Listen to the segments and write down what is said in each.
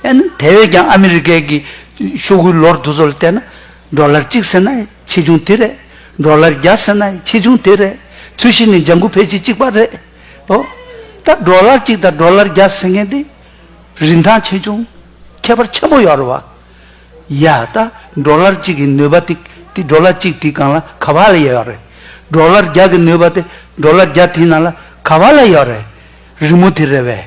ཨེ་ན། དེ་བས་ཀྱང་ཨ་མི་རི་ཀའི་གི་ཤོག་བུའི་ལོར་འདུ་ཚོགས་ལ་བལྟས་ན། འབྲོག་ལར་གཅིག་ཟེར་ན་ཆེ་ཆུང་དེ་རེད། འབྲོག་ལར་བརྒྱ་ཟེར་ན་ཆེ་ཆུང་དེ་རེད། ཚུལ་བཞིན་ནི་ལྗང་ཁུ་ཕལ་ཆེར་གཅིག་པ་རེད། ཨོ། ད་འབྲོག་ལར་གཅིག་དང་འབྲོག་ལར་བརྒྱ་ཟེར་མཁན་དེ། རིན་ཐང་ཆེ་ཆུང་ཁྱད་པར་ཆེན་པོ་ཡོད་རེད་བ། ཡ། ད་འབྲོག་ལར་གཅིག་གི་ནུས་པ་དེ་དེ་འབྲོག་ལར་གཅིག་དེའི་སྒང་ལ་ག་བ་ལ་ཡོད་རེད། འབྲོག་ལར་བརྒྱ་གི་ནུས་པ་དེ་འབྲོག་ལར་བརྒྱ་དེའི་ནང་ལ་ག་བ་ལ་ཡོད་རེད། རི་མོ་དེ་རེད་བས།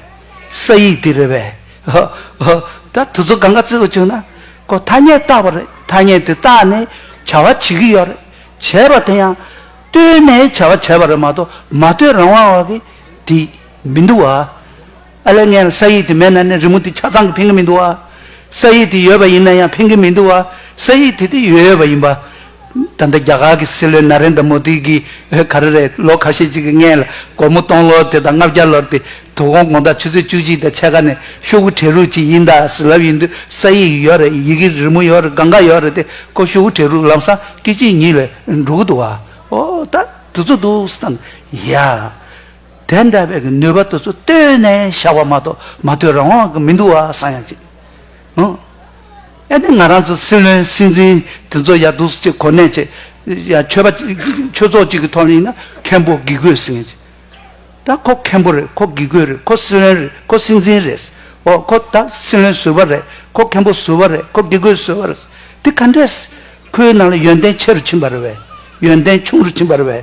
ས་ཡིག་དེ་རེད་བས། ཧོ། ཧོ། ད་དུ་ཚོད་གང་ག་བརྩི་དགོས་བྱུང་ན། ཁོ་ཐ་སྙད་བཏགས་པ་རེད་ཐ་སྙད་དེ་བཏགས་ནས་བྱ་བ་བྱེད་ཀྱི་ཡོད་རེད། བྱས་པ་དེ་ཡང། བལྟོས་ནས་བྱ་བ་བྱས་པ་རེད་མ་གཏོགས་མ་བལྟོས་རང་དབང་བ་གི་དེ་མི་འདུག་ཨ། ཨ་ལས་ངན་ལ་ས་ཡིག་དེ་མེད་ན་ནི་རི་མོ་དེ་ཆ་ཚང་གི་ཕན་གི་མི་འདུག་ཨ། ས་ཡིག་དེ་ཡོད་པ་ཡིན་ན་ཡང་ཕན་གི་མི་འདུག་ཨ། ས་ཡིག་དེ་དེ་ཡོད་ཡོད་པ་ཡིན་པ། ད་ལྟ་རྒྱ་གར་གྱི་སྲིད་བློན་ན་རེན་དཱ་མོ་དཱི་གིས་ག་རེ་རེད་ལོ་ཁ་ཤས་ཅིག་གི་སྔས་ལ་སྒོར་མོ་སྟོང་ལོར་དེ་དང་ལྔ་བརྒྱ་ལོར་དེ་དུ་ཧོང་ཀོང་དང་ཆུ་ཚོད་བཅུ་གཅིག་དང་ཕྱེད་ཀ་ནས་ཤོག་བུ་བྲེ་རུག་ཅིག་ཡིན་ད་ཟི་ལབ་ཡིན་དུས་ས་ཡིག་ཡིག་ཡོག་རེད་ཡི་གེ་རི་མོ་ཡོག་རེད་གང་ག་ཡོག་རེད་དེ་ཀོ་ཤོག་བུ་བྲེ་རུག་ལམ་སང་སྐད་ཅིག་ཉིག་ལས་འགྲོ་གི་འདུག་ཨ་ཨོ་ད་དུ་ཚོ་འདུག་སི་ཐང་ཡ། དེ་འདྲ་བའི་གི་ནུས་པ་དུ་ཚོ་བཏོད་ནས་བཞག་པ་མ་གཏོགས་མ་བཏོད་རང་དབང་གི་མི་འདུག་ཨ་སང་ཡང་ཅིག། ཨེ་དེ་ང་རང་ཚོ་སྲིད་བློན་སྲིད་འཛིན་དེ་ཚོ་ཡར་འདུག་ཅིག་གོ་གནས་ཅིག་ཡར་ཆོས་པ་ཆོས་ཚོགས་ཅིག་གི་ཐོག་ནས་ཡིན་ན་མཁན་པོ་དགེ་བསྐོས་ཟེར་ངེས་ཅིག་ད་ཁོ་མཁན་པོ་རེད་ཁོ་དགེ་བསྐོས་རེད་ཁོ་སྲིད་བློན་རེད་ཁོ་སྲིད་འཛིན་རེད་ཨོ་ཁོ་ད་སྲིད་བློན་ཟུར་བ་རེད་ཁོ་མཁན་པོ་ཟུར་བ་རེད་ཁོ་དགེ་བསྐོས་ཟུར་བ་རེད་དེ་ག་འདྲས་ཁོའི་ནང་ལ་ཡོན་ཏན་ཆེ་རུ་ཕྱིན་པ་རེད་བས་ཡོན་ཏན་ཆུང་རུ་ཕྱིན་པ་རེད་བས།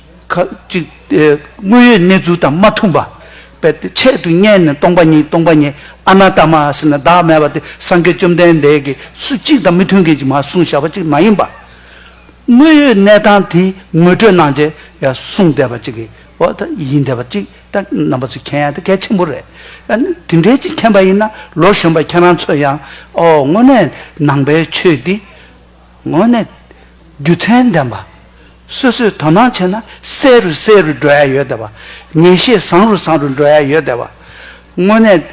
ཁ་ཅིག་དངོས་ཡོད་གནས་ཚུལ་དང་མ་མཐུན་པ། དཔེར་ཏེ་ཆེད་དུ་བསྙད་ནས་སྟོང་པ་ཉིད་སྟོང་པ་ཉིད་ཨ་ན་ད་མ་ཨཱསི་ན་བདག་མེད་པ་དེ་སངས་རྒྱས་བཅོམ་ལྡན་འདས་ཀྱིས་སུ་གཅིག་དང་མི་མཐུན་མཁན་གྱིས་མ་གསུངས་བྱ་བ་ཅིག་མ་ཡིན་པ། དངོས་ཡོད་གནས་སྟངས་དེ་ངོ་སྤྲོད་གནང་རྗེས་ཡང་གསུངས་བསྡད་པ་ཅིག་གི་འོག་ཏུ་ཡིན་བསྡད་པ་ཅིག་ད་རྣམ་པ་ཚོས་མཁྱེན་ཡ་དེ་གལ་ཆེན་པོ་རེད། ཡང་ན་དེ་འདྲའི་ཅིག་མཁྱེན་པ་ཡིན་ན་ལོ་གཞོན་པ་ཁྱེད་རང་ཚོས་ཡང་ཨོ་དངོས་གནས་ནང་པའི་ཆོས་འདི། ངོས་ནས། རྒྱུ་མཚན་ལྡན་པ། སོ་སོས་དོ་སྣང་བྱས་ན་གསལ་རུ་གསལ་རུ་འགྲོ་ཡ་ཡོད་བསྡད་པ། ངེས་ཤེས་བཟང་རུ་བཟང་རུ་འགྲོ་ཡ་ཡོད་བསྡད་པ། དངོས་གནས།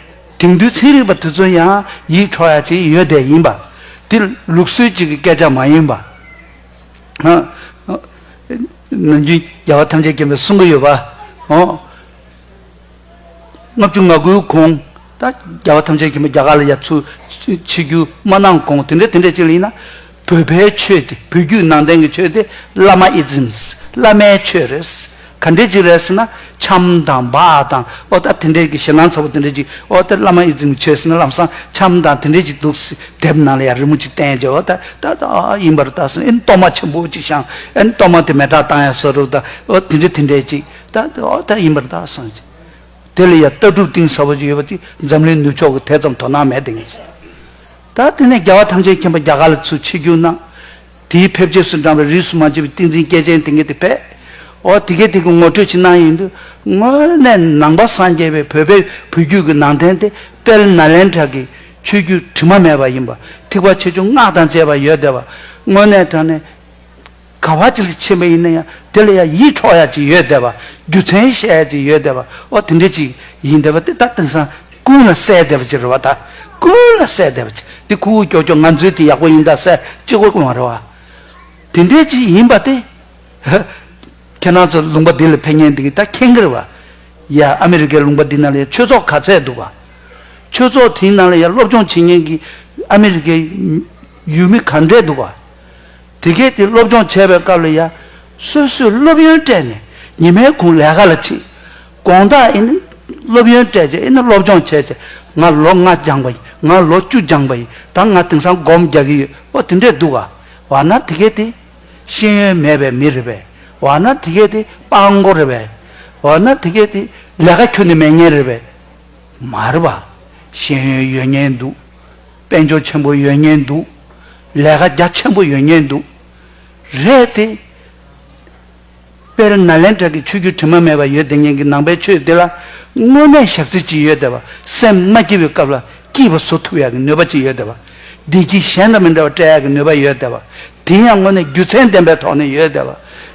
དེང་དུས་ཚན་རིག་པ་དེ་ཚོ་ཡང་ཡིད་འཕྲོག་ཡ་ཅིག་ཡོད་བསྡད་ཡིན་པ། དེ་ལུགས་སྲོལ་ཅིག་གི་སྐད་ཆ་མ་ཡིན་པ། ནམ་རྒྱུན་རྒྱལ་བ་ཐམས་ཅད་མཁྱེན་པའི་གསུང་གི་ཡོད་པ། ལྔ་བཅུ་ང་དགུའི་གོང་ད་རྒྱལ་བ་ཐམས་ཅད་ཀྱིས་མ་རྒྱ་གར་ལ་ཡར་ཚུར་ཕྱི་རྒྱུ་མ་གནང་གོང་དེ་འདྲའི་དེ་འདྲའི་ཅིག་ལ་ཡིན་ན། བོད་པའི་ཆོས་དེ་བོད་བརྒྱུད་ནང་བསྟན་གྱི་ཆོས་དེ་བླ་མ་ཨིཛིམས་བླ་མའི་ཆོས་རེད། ག་འདྲའི་ཅིག་རེད་ཟེར་ན་ཆམ་དང་འབག་དང་ཨོ་ད་དེ་འདྲའི་གི་ཞེ་སྣང་ཚ་བོ་དེ་འདྲའི་ཅིག་ཨོ་དེ་བླ་མ་ཨིཛིམས་གྱི་ཆོས་ཟེར་ན་ལམ་སང་ཆམ་དང་དེ་འདྲའི་ཅིག་འདུག་ཟེར་དེབ་ནང་ལ་ཡང་རི་མོ་ཅིག་བསྟན་རྗེས་ཨོ་ད་ད་ད་ཨ་ཨ་ཡིན་པར་ད་ཟེར་ཨེ་གཏོར་མ་ཆེན་པོ་ཅིག་བཤངས་ཨེ་གཏོར་མ་དེ་མེ་བྲག་བཏང་ཡ་ཟེར་རོ་ད་ཨོ་དེ་འདྲའི་དེ་འདྲའི་ཅིག་ད་དེ་འོག་ཐད་ཡིན་པར་གདའ་སངས་རྒྱས། དེ་ལ་ཡང་ལྟ་གྲུབ་གཏིང་ཟབ་པོ་ཅིག་ཡོད་པ་དེ་འཛམ་གླིང་ནུབ་ཕྱོགས་ཀྱི་དེ་ཙམ་དོ་སྣང་མེད་ལྡེ་ངེས་ཅན། ད་དེ་ནས་རྒྱལ་བ་ཐམས་ཅད་མཁྱེན་པ་རྒྱ་གར་ལ་ཚུལ་ཆེ་རྒྱུན་སྣང། དེའི་ཕེབས་རྗེས་སུ་འབྲངས་པའི་རིས་སུ་མ་ཆད་པའི་ཏིང་འཛིན་སྐྱེས་ཆེན་དེ་ངེས་དེ་ཕེབས། འོ་དེ་གས་དེ་གི་ངོ་སྤྲོད་ཅིག་གནང་ཡིན་དུས་དངོས་གནས་ནང་པ་སངས་རྒྱས་པའི་བོད་པའི་བུ་རྒྱུད་ཀྱི་ནང་བསྟན་དེ་དཔལ་ནཱ་ལེནྡྲ་གི་ཆོས་བརྒྱུད་དྲི་མ་མེད་པ་ཡིན་པ་ཐིགས་པ་ཆེ་ཆུང་སྔགས་དང་བཅས་པ་ཡོད་བསྡད་པ་དངོས་གནས་དྲངས་ནས། ག་བ་ཅི་ལ་ཕྱིན་པ་ཡིན་ན་ཡང་དེ་ལ་ཡང་ཡིད་འཕྲོག་ཡ་ཅིག་ཡོད་བསྡད་པ། རྒྱུ་མཚན་བཤད་ཡ་ཅིག་ཡོད་བསྡད་པ། ཨོ་དེ་འདྲ་ཅིག་ཡིན་བསྡད་པ་དེ་ད་དེང་སང་ཀུན་ལ་གསལ་བསྡད་པ་ཅིག་རེད་བ་ད། ཀུན་ལ་གསལ་བསྡད་པ་ཅིག་དེ་ཁུ་བོ་ཀྱོག་ཀྱོག་ང་ཚོའི་དེ་ཡག་པོ་ཡིན་ད་གསལ་ཅིག་བོ་གློང་བ་རེད་བ། དེ་འདྲ་ཅིག་ཡིན་པ་དེ། ཁྱེད་རང་ཚོ་ལུང་པ་འདི་ལ་ཕེབས་ཉེན་འདི་གི་ད་ཁྱེད་གི་རེད་བ། ཡ་ཨ་མི་རི་ཀའི་ལུང་པ་འདི་ན་ལ་ཡང་ཆོས་ཚོགས་ག་ཚད་འདུག་བ། ཆོས་ཚོགས་དེའི་ནང་ལ་ཡང་སློབ་སྦྱོང་བྱེད་ཉེན་གི་ཨ་མི་རི་ཀའི་ཡུལ་མི་ག་འདྲས་འདུག་བ། དེ་སྐད་དེ་སློབ་སྦྱོང་བྱས་པའི་སྐབས་ལ་ཡ། སོ་སོས་སློབ་ཡོན་སྤྲད་ནས་ཉི་མའི་གུང་ལས་ཀ་ལ་ཕྱིན། དགོངས་དག་ཨེ་ནི། སློབ་ཡོན་སྤྲད་རྗེས་ཨེ་ནི་སློབ་སྦྱོང་བྱས་རྗེས་ང་ལོ་ལྔ་སྦྱངས་པ་ཡིན་ང་ལོ་བཅུ་སྦྱངས་པ་ཡིན་ད་ང་དེང་སང་སྒོམ་རྒྱག་གི་ཡོད་ཨོ་དེ་འདྲས་འདུག་ག། འོ་ན་དེ་སྐད་དེ། ཤེས་ཡོན་མེད་པའི་མི་རེད་པས། འོ་ན་དེ་སྐད་དེ་སྤང་མགོ་རེད་པས། འོ་ན་དེ་སྐད་དེ་ལས་ཀ་ཁྱོན་ནས་མེད་ངེས་རེད་པས། མ་རེད་པ། ཤེས་ཡོན་ཡོད་ངེས་འདུག། དཔལ་འབྱོར་ཆེན་པོ་ཡོད་ཉེན་འདུག། ལས་ཀ་རྒྱ་ཆེན་པོ་ཡོད་ཉེན་འདུག། རེད་དེ། དཔེར་ན་ལན་གྲགས་ཀྱི་ཆོས་བརྒྱུད་དྲི་མ་མེད་པ་ཡོད་དེ་ཉེན་གྱི་ནང་པའི་ཆོས་དེ་ལ་དངོས་གནས་ཞག་རྩི་ཅི་ཡོད་དེ་བ་སེམས་མ་སྐྱིད་པའི་སྐབས་ལ་སྐྱིད་པ་བཟོ་ཐུབ་ཡག་གི་ནུས་པ་ཅི་ཡོད་དེ་བ་བདེ་སྐྱིད་གཞན་དང་མི་འདྲ་བ་སྤྲད་ཡག་གི་ནུས་པ་ཡོད་དེ་བ་དེ་ཡང་དངོས་གནས་རྒྱུ་མཚན་ལྡན་པའི་ཐོག་ནས་ཡོད་དེ་བ་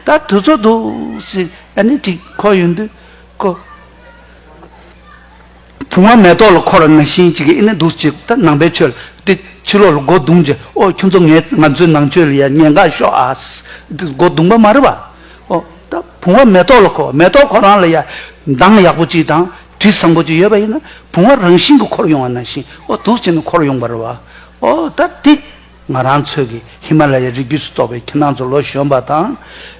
ད་དུས་ཚོད་འདུག་སི་ཨ་ནི་དྲིས་ཁོ་ཡོད་འདུག་གོ། དུང་བ་མེ་ཏོག་ལ་འཁོར་བ་ན་བཞིན་གྱི་ཨེ་ནས་འདུག་ཅིག་ད་ནང་པའི་ཆོས་ལ་བལྟས། ཕྱི་ལོགས་ལ་སྒོ་བརྡུངས་ཀྱི་ཨོ་ཁྱོད་ཚོ་ངས་ང་ཚོའི་ནང་ཆོས་ལ་ཡ་ཉེས་འགའ་ཤོག་ཨ། སྒོ་བརྡུངས་པ་མ་རེད་པ། ཨོ། ད་བུང་བ་མེ་ཏོག་ལ་འཁོར་བ་མེ་ཏོག་ཁོ་རང་ལ་ཡ། མདངས་ཡག་པོ་ཅིག་དང་དྲི་བཟང་པོ་ཅིག་ཡོད་པ་ཡིན་ན་བུང་བ་རང་བཞིན་གྱི་འཁོར་ཡོང་བ་ན་བཞིན་ཨོ་དུག་བྱས་ན་འཁོར་ཡོང་པ་རེད་བ། ཨོ་ད་དེ། ང་རང་ཚོས་ཀྱི་ཧི་མ་ལ་ཡའི་རི་རྒྱུད་སུ་གཏོགས་པའི་ཁྱེད་རང་ཚོ་ལོ་གཞོན་པ་དང།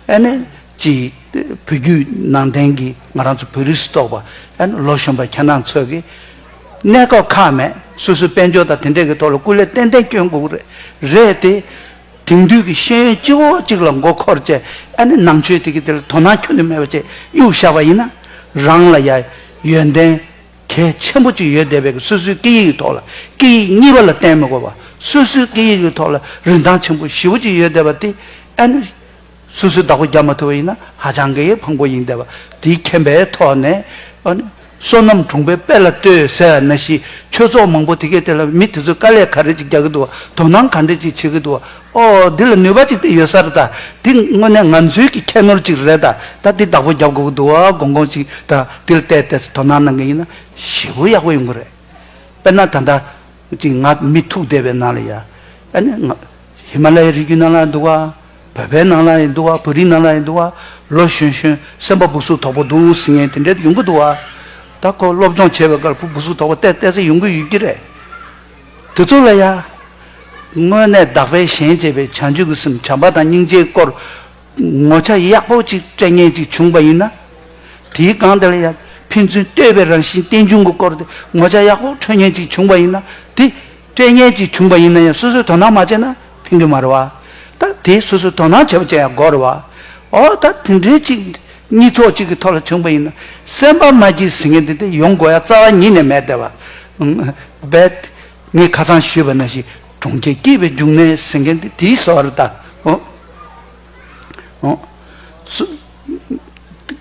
ཨེ་ནས། ཅེས་བོད་བརྒྱུད་ནང་བསྟན་གྱི་ང་རང་ཚོ་བོད་རིགས་སུ་གཏོགས་པ་ཡང་ལོ་གཞོན་པ་ཁྱེད་རང་ཚོས་ཀྱིས་གནས་སྐབས་ཁག་མེད་སོ་སོའི་དཔལ་འབྱོར་དང་དེ་འདྲས་ཀྱི་ཐོག་ལ་སྐུ་ལས་ཏན་ཏན་བསྐྱོན་དགོས་ཀྱི་རེད་དེ། དེང་དུས་ཀྱི་ཤེས་ཡོན་སྤྱི་བོ་གཅིག་ལ་མགོ་འཁོར་བཅས་ཨ་ནི་ནང་ཆོས་དེ་གི་དེ་ལ་དོ་སྣང་ཁྱོན་དུ་མེད་པ་བཅས་གཡུག་བཞག་པ་ཡིན་ན། རང་ལ་ཡང་ཡོན་ཏན་གལ་ཆེན་པོ་གཅིག་ཡོད་བསྡད་པས་སོ་སོའི་སྐད་ཡིག་གི་ཐོག་ལ་སྐད་ཡིག་གཉིས་པ་ལ་བརྟེན་མི་དགོས་པ་སོ་སོའི་སྐད་ཡིག་གི་ཐོག་ལ་རིན་ཐང་ཆེན་པོ་བཞི་བོ་གཅིག་ཡོད་བསྡད་པ་དེ་ཨ་ནི། སོ་སོའི་བདག་པོ་རྒྱག་མ་ཐུབ་པ་ཡིན་ན་ཧ་ཅང་གི་ཕངས་པོ་ཡིན་འདས་པ་དེའི་མཁྱེན་པའི་ཐོག་ནས། བསོད་ནམས་གྲོང་པའི་དཔལ་ལ་ལྟོས་ཟེར་བ་ན་ཞི་ཁྱོད་ཚོགས་མང་པོ་དེ་གས་དེ་ལ་མི་དེ་ཚོས་དཀའ་ལས་ག་རེ་ཅིག་རྒྱག་གི་འདུག་བ་དོ་སྣང་ག་འདྲེ་ཅིག་བྱེད་གི་འདུག་བ་ཨོ་འདི་ལ་ནུས་པ་ཅིག་དེ་ཡོད་ས་རེད་ད་འདི་དངོས་གནས་ང་ཚོའི་གི་ཁྱད་ནོར་ཅིག་རེད་ད་ད་འདི་བདག་པོ་རྒྱབ་དགོས་གི་འདུག་བ་དགོངས་དགོངས་ཅིག་ད་འདི་ལ་བལྟས་བལྟས་སུ་དོ་སྣང་གནང་གི་ཡིན་ན་ཞེ་པོ་ཡག་པོ་ཡོང་གི་རེད་དཔེར་ན་ད་ལྟ་ཅིག་ང་མི་ཐུག་འདས་པའི་ནང་ལ་ཡ་ཨ་ནི་ང་ཧི་མ་ལ་ཡའི་རི་རྒྱུད་ནང་ལ་འདུག་བ། བོད་པའི་ནང་ལ་ཡི་འདུག་བ་བོད་རིགས་ནང་ལ་ཡི་འདུག་བ་ལོ་གཞོན་གཞོན་སེམས་པ་སྦུག་སུག་དོག་པོ་འདུག་ཟིང་ངེ་དེ་འདྲས་ཡོང་གི་འདུག་བ། ད་ཁོ་སློབ་སྦྱོང་བྱས་པའི་སྐར་བུ་སྦུག་སུག་དོག་པོ་བལྟས་བལྟས་ཚེ་ཡོང་གི་ཡོད་ཀྱི་རེད། དེ་ཚོ་ལ་ཡ། དངོས་གནས་བདག་པས་གཞན་གཅེས་པའི་བྱང་ཆུབ་ཀྱི་སེམས་བྱམས་པ་དང་སྙིང་རྗེའི་སྐོར་ངོ་ཆ་ཡག་པོ་ཅིག་སྤྲད་ངེས་ཅིག་བྱུང་བ་ཡིན་ན། དེའི་སྒང་དེ་ལ་ཡ། ཕན་ཚུན་བལྟོས་པའི་རང་བཞིན་རྟེན་འབྱུང་གི་སྐོར་དེ་ངོ་ཆ་ཡག་པོ་འཕྲོད་ངེས་ཅིག་བྱུང་བ་ཡིན་ན་དེ་སྐྲན་ངན་གྱིས་བྱུང་པ་ཡིན་ན་ཡང་སོ་སོས་དོ་སྣང་མ་བྱས་ན་ཕན་གི་མ་རེད་བ། ད་དེ་སོ་སོས་དོ་སྣང་བྱེད་པ་བྱས་ཡག་དགོས་རེད་བ། འོ་ད་དེ་འདྲའི་གཅིག་གཉིས་ཚོགས་གཅིག་གི་ཐོག་ལ་བྱུང་པ་ཡིན་ན་སེམས་པ་མ་སྐྱིད་ཟེར་མཁན་དེ་དེ་ཡོང་དགོས་ཡ་རྩ་བ་ཉིད་ནས་མེད་བསྡད་བ། རྦད། ངས་ཁ་ཚང་ཞུས་པ་ན་ཞིག་གྲོང་ཁྱེར་སྐྱིད་པའི་འབྱུང་གནས་ཟེར་མཁན་དེ་དེའི་བཟོ་བ་རེད་ད། འོ།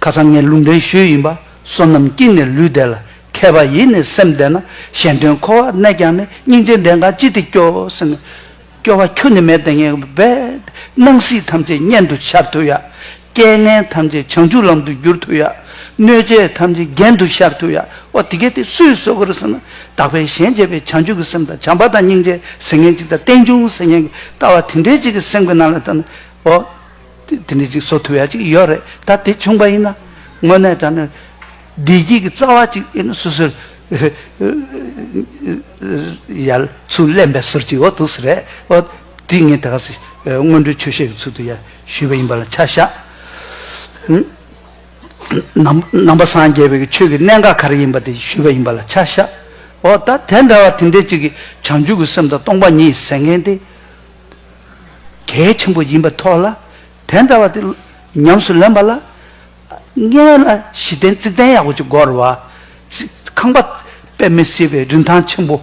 ཁ་སང་ངས་ལུང་འདྲེན་ཞུས་ཡིན་པ་བསོད་ནམས་སྐྱིད་ནས་ལུས་བདེ་ལ་མཁས་པ་ཡིད་ནས་སེམས་བདེ་ན་གཞན་དོན་འཁོར་བར་གནས་ཀྱང་ནི་སྙིང་རྗེ་འདྲེན་གང་ཅི་སྟེ་སྐྱོ་སེམས་ནི། སྐྱོ་བ་ཁྱོད་ནི་མེད་དེ་ངས་བས། སྣང་སྲིད་ཐམས་ཅད་གཉེན་དུ་ཤར་ཐུབ་ཡ། རྐྱེན་ངན་ཐམས་ཅད་བྱང་ཆུབ་ལམ་དུ་བསྒྱུར་ཐུབ་ཡ། གནོད་བྱེད་ཐམས་ཅད་རྒྱན་དུ་ཤར་ཐུབ་ཡ། ཨོ་དེ་སྐད་དེ་སུས་གསོལ་གོ་རེ་ཟེར་ན། དག་པའི་ཞལ་མཇལ་བའི་བྱང་ཆུབ་ཀྱི་སེམས་དང་བྱམས་པ་དང་སྙིང་རྗེ་ཟེར་མཁན་གཅིག་དང་རྟེན་འབྱུང་ཟེར་མཁན་གྱི་ལྟ་བ་དེ་འདྲའི་གཅིག་གི་སེམས་ཀྱི་ནང་ལ་ཐོན་ན། ཨོ། དེ་ནི་ཅིག་བཟོ་ཐུབ་ཡ་ཅིག་ཡོད་རེད་ད་དེ་བྱུང་པ་ཡིན་ན། དངོས་གནས་ད་ནི་བདེ་སྐྱིད་ཀྱི་རྩ་བ་ཅིག་ཡིན་ན་སུ་ཟེར། ཡར་ཚུར་གླེན་པའི་ཟུར་གྱི་འོ་ཐུག་སུ་རེད་འོ། དེ་ངས་ད་ག་ཟེ་སྔོན་འགྲོའི་ཆོས་བཤད་ཀྱི་ཚུལ་དུ་ཡར་ཞུས་པ་ཡིན་པ་ལ་ཆ་བཞག། ནང་པ་སངས་རྒྱས་པའི་ཆོས་ཀྱི་གནད་འགག་ག་རེ་ཡིན་པ་དེ་ཞུས་པ་ཡིན་པ་ལ་ཆ་བཞག། འོ་ད་དེ་འདྲ་བ་དེ་འདྲའི་ཅིག་གིས་བྱང་ཆུབ་ཀྱི་སེམས་དང་སྟོང་པ་ཉིད་ཟེར་མཁན་དེ། གལ་ཆེན་པོ་ཡིན་པའི་ཐོག་ལ་དེ་འདྲ་བ་དེ་ཉམས་སུ་ལེན་པ་ལ་ལྔས་ལ་གཞི་རྟེན་རྩིག་གདན་ཡག་པོ་ཅིག་བསྒོ་རོགས། ཁང་པ་དཔེ་མི་སྲིད་པའི་རིན་ཐང་ཆེན་པོ་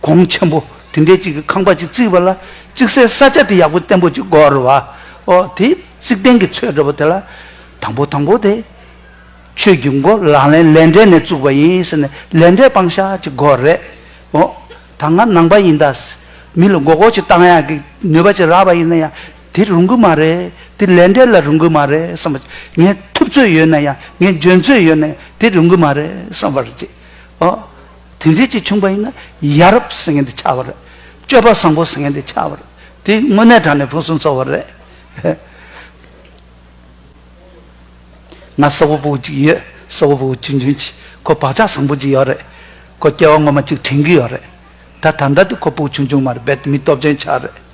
གོང་ཆེན་པོ་དེ་འདྲའི་ཅིག་གི་ཁང་པ་ཅིག་བརྩིགས་པ་ལ་བརྩིགས་སའི་ས་ཆ་དེ་ཡག་པོ་བརྟན་པོ་ཅིག་བསྒོ་རོགས། ཨོ་དེ་རྩིག་གདན་གྱི་ཚོད་འདྲ་བོ་དེ་ལ་དང་པོ་དང་པོ་དེ་ཁྱོད་ཀྱིས་འགོ་ལག་ལེན་ལས་འབྲས་ནས་བཙུགས་པ་ཡིན་ཟེར་ནས་ལས་འབྲས་སྤང་བྱ་ཅིག་བསྒོ་རེད། ཨོ། ད་ང་ནང་པ་ཡིན་ད། མི་ལ་མགོ་སྐོར་ཅིག་བཏང་ཡག་གི་ནུས་པ་ཅིག་རག་པ་ཡིན་ན་ཡང་དེ་རུང་གི་མ་རེད། དེ་ལས་འབྲས་ལ་རུང་གི་མ་རེད་བསམ་པ། ངས་ཐུབ་ཚོད་ཡོད་ན་ཡང་ངས་འཇོན་ཚོད་ཡོད་ན་ཡང་དེ་རུང་གི་མ་རེད་བསམ་པར་བྱེད། ཨོ། དེ་འདྲས་ཅིག་བྱུང་པ་ཡིན་ན་ཡ་རབས་ཟེར་མཁན་དེ་ཆགས་པ་རེད། སྤྱོད་པ་བཟང་པོ་ཟེར་མཁན་དེ་ཆགས་པ་རེད། དེ་དངོས་གནས་དྲང་ནས་ཕུན་སུམ་ཚོགས་པ་རེད། ང་སོག་པོ་པོ་ཅིག་ཡོད་སོག་པོ་པོ་ཆུང་ཆུང་གཅིག་ཁོ་བག་ཆགས་བཟང་པོ་ཅིག་ཡོད་རེད་ཁོ་སྐྱེ་བ་ངོ་མ་ཅིག་དྲན་གི་ཡོད་རེད་ད་ད་ལྟ་དུ་ཁོ་པོ་ཆུང་ཆུང་མ་རེད་བེད་མི་སྟོབས་ཅན་ཆགས་རེད།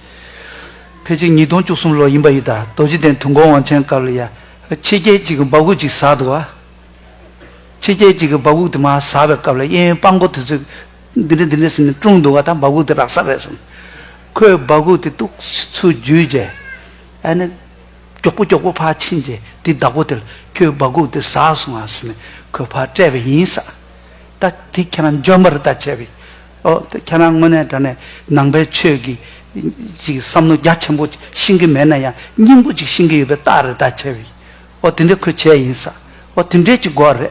ཕལ་ཆེར་ཉིས་སྟོང་བཅུ་གསུམ་ལོ་ཡིན་པ་ཡི་ད་རྡོ་རྗེ་གདན་དུ་འགོ་དབང་ཆེན་སྐབས་ལ་ཡ་ཕྱི་རྒྱལ་གཅིག་གི་འབག་འུག་ཅིག་ཟགས་འདུག་ཨ། ཕྱི་རྒྱལ་གཅིག་གི་འབག་འུག་དེ་མ་ཟགས་པའི་སྐབས་ལ་གཡས་གཡོན་དཔང་མགོ་དེ་ཚོས་འདི་འདྲ་འདི་འདྲ་ཟེར་ནས་དཀྲུགས་འདུག་ཨ་ད་འབག་འུག་དེ་རག་ས་རེད་གསུངས། ཁོས་འབག་འུག་དེ་གཏུགས་ཚུལ་བརྒྱུད་རྗེས་ཨ་ནི། མགྱོགས་པོ་མགྱོགས་པོ་ཕར་ཕྱིན་རྗེས་དེའི་བདག་པོ་དེར་ཁྱོའི་སྦ་གུག་དེ་ཟགས་སོང་ཨང་ཟེར་ནས་ཁོས་ཕར་སྤྲད་པ་ཡིན་ས། ད་དེ་ཁྱེད་རང་འཇོན་པར་ད་བྱས་པས། ཨོ། ད་ཁྱེད་རང་དངོས་གནས་དྲ་ནས་ནང་པའི་ཆོས་ཀྱི་ཅིག་བསམ་མནོ་རྒྱ་ཆེན་པོ་ཤིང་གི་མེད་ན་ཡང་སྙིང་པོ་ཅིག་ཤིང་གི་ཡོད་པའི་རྟགས་རེད་ད་བྱས་པས། ཨོ་དེ་འདྲའི་ཁོས་བྱས་ཡིན་ས། ཨོ་དེ་འདྲའི་ཅིག་འགོ་རེད།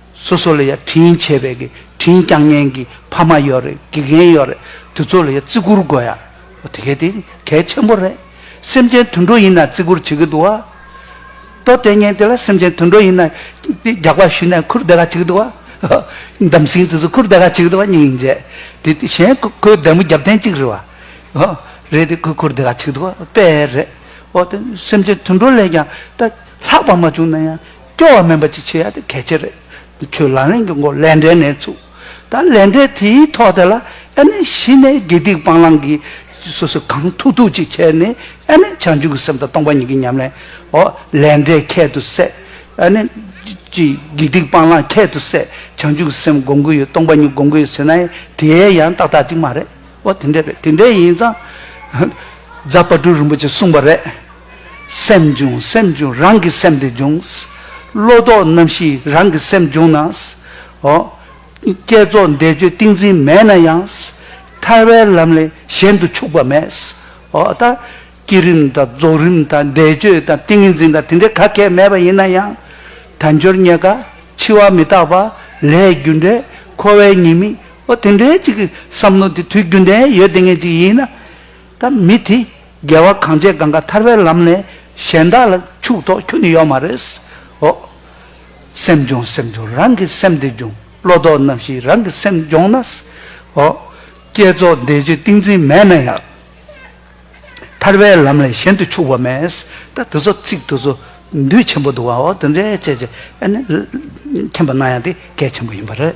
སོ་སོ་ལ་ཡ་དྲིན་ཆེ་བས་དགེ་དྲིན་རྐྱང་ཉན་གི་ཕ་མ་ཡོད་རེད་དགེ་རྒན་ཡོད་རེད་དུ་ཚོགས་ལ་ཡ་བརྩི་བཀུར་དགོས་ཡ་དེ་གལ་ཏེ་གལ་ཆེན་པོ་རེད་སེམས་ཅན་དུད་འགྲོ་ཡིན་ན་བརྩི་བཀུར་བྱེད་གི་འདུག་ཨ། ལྟོ་སྟེ་ངན་དེ་ལ་སེམས་ཅན་དུད་འགྲོ་ཡིན་ན་དེ་རྒྱག་པ་ཞུས་ནས་འཁུར་བསྡད་ག་བྱེད་གི་འདུག་ཨ། འདམ་སྲིང་དེ་ཚོ་འཁུར་བསྡད་ག་བྱེད་གི་འདུག་ཨ་སྙིང་ཉིན་རྗེ་དེ་དེ་གཞན་ཁོའི་བདེ་མོ་རྒྱབ་ཐེངས་གཅིག་རེད་བ། ཧོ། རེད་དེ་ཁོས་འཁུར་བསྡད་ག་བྱེད་གི་འདུག་ཨ་དཔེ་རེད། འོ་དེ་སེམས་ཅན་དུད་འགྲོ་ལས་ཀྱང་ད་ལྷག་པ་མ་བྱུང་ན་ཡང་སྐྱོ་བ་མིན་པ་ཅིག་བྱེད་ཡ་དེ་གལ་ཆེ་རེད། ཁྱོད་ལག་ལེན་གྱི་མགོ་ལས་འབྲས་ནས་ཚུགས། ད་ལས་འབྲས་དེའི་ཐོག་དེ་ལ་ཨེ་ནས་གཞི་ནས་དགེ་སྡིག་སྤང་བླང་གི་སོ་སོས་གང་ཐུག་ཐུག་ཅིག་བྱས་ནས་ཨེ་ནས་བྱང་ཆུབ་ཀྱི་སེམས་དང་སྟོང་པ་ཉིད་ཀྱི་ཉམས་ལེན་ཨོ། ལས་འབྲས་ཁྱད་དུ་བསད། ཨེ་ནས། ཅི། དགེ་སྡིག་སྤང་བླང་ཁྱད་དུ་བསད། བྱང་ཆུབ་ཀྱི་སེམས་སྒོམ་གྱི་ཡོད་སྟོང་པ་ཉིད་སྒོམ་གྱི་ཡོད་ཟེར་ནའི་དེའི་ཡང་ཏག་ཏག་ཅིག་མ་རེད། ཨོ་དེ་འདྲས་རེད་དེ་འདྲས་ཡིན་ཙང། རྫ་དཔའ་སྤྲུལ་རིན་པོ་ཆེས་གསུངས་པ་རེད། སེམས་འབྱུང་སེམས་འབྱུང་རང་གི་སེམས་དེ་འབྱུང། བློ་ལྡོག་རྣམ་བཞི་རང་གི་སེམས་འབྱུང་ན། ཧོ། བསྐྱེད་རྫོགས་བཟླས་བརྗོད་ཏིང་འཛིན་མེད་ན་ཡང། ཐར་བའི་ལམ་ལས་གཞན་དུ་ཆུག་པ་མེད། ཧོ། ད། བསྐྱེད་རིམ་དང་རྫོགས་རིམ་དང་བཟླས་བརྗོད་དང་ཏིང་ངེ་འཛིན་དང་དེ་འདྲའི་ག་གལ་མེད་པ་ཡིན་ན་ཡང། དལ་འབྱོར་རྙེད་དཀའ། འཆི་བ་མི་རྟག་པ། ལས་རྒྱུ་འབྲས། འཁོར་བའི་ཉེས་དམིགས། ཨོ། དེ་འདྲའི་ཅིག་གི་བསམ་བློ་དེ་དུས་རྒྱུན་ལྡན་ཡོད་བདེ་ངེས་ཅིག་ཡིན་ན། ད་མི་དེ་རྒྱལ་བ་གངས་ཅན་གངས་ཀ་ཐར་པའི་ལམ་ནས་གཞན་དག་ལ་ཕྱུག་ཐོག་ཁྱུ་ནི་ཡོག་མ་རེད། ཨོ། སེམས་སྦྱོང་སེམས་སྦྱོང་རང་གི་སེམས་དེ་སྦྱོང་བློ་ལྡོག་རྣམ་བཞི་རང་གི་སེམས་སྦྱོང་ན། ཨོ། བསྐྱེད་རྫོགས་འདས་རྗེས་ཏིང་འཛིན་མེད་ན་ཡང། ཐར་པའི་ལམ་ལས་གཞན་དུ་ཕྱུག་པ་མེད། ད་དེ་ཚོ་ཚིག་དེ་ཚོ་འདུས་ཆེན་པོ་འདུག་བ་འོ་དེ་འདྲའི་བྱས་རྗེས་ཨ་ནི། མཁྱེན་པ་གནང་ཡང་དེ་གལ་ཆེན་པོ་ཡིན་པ་རེད།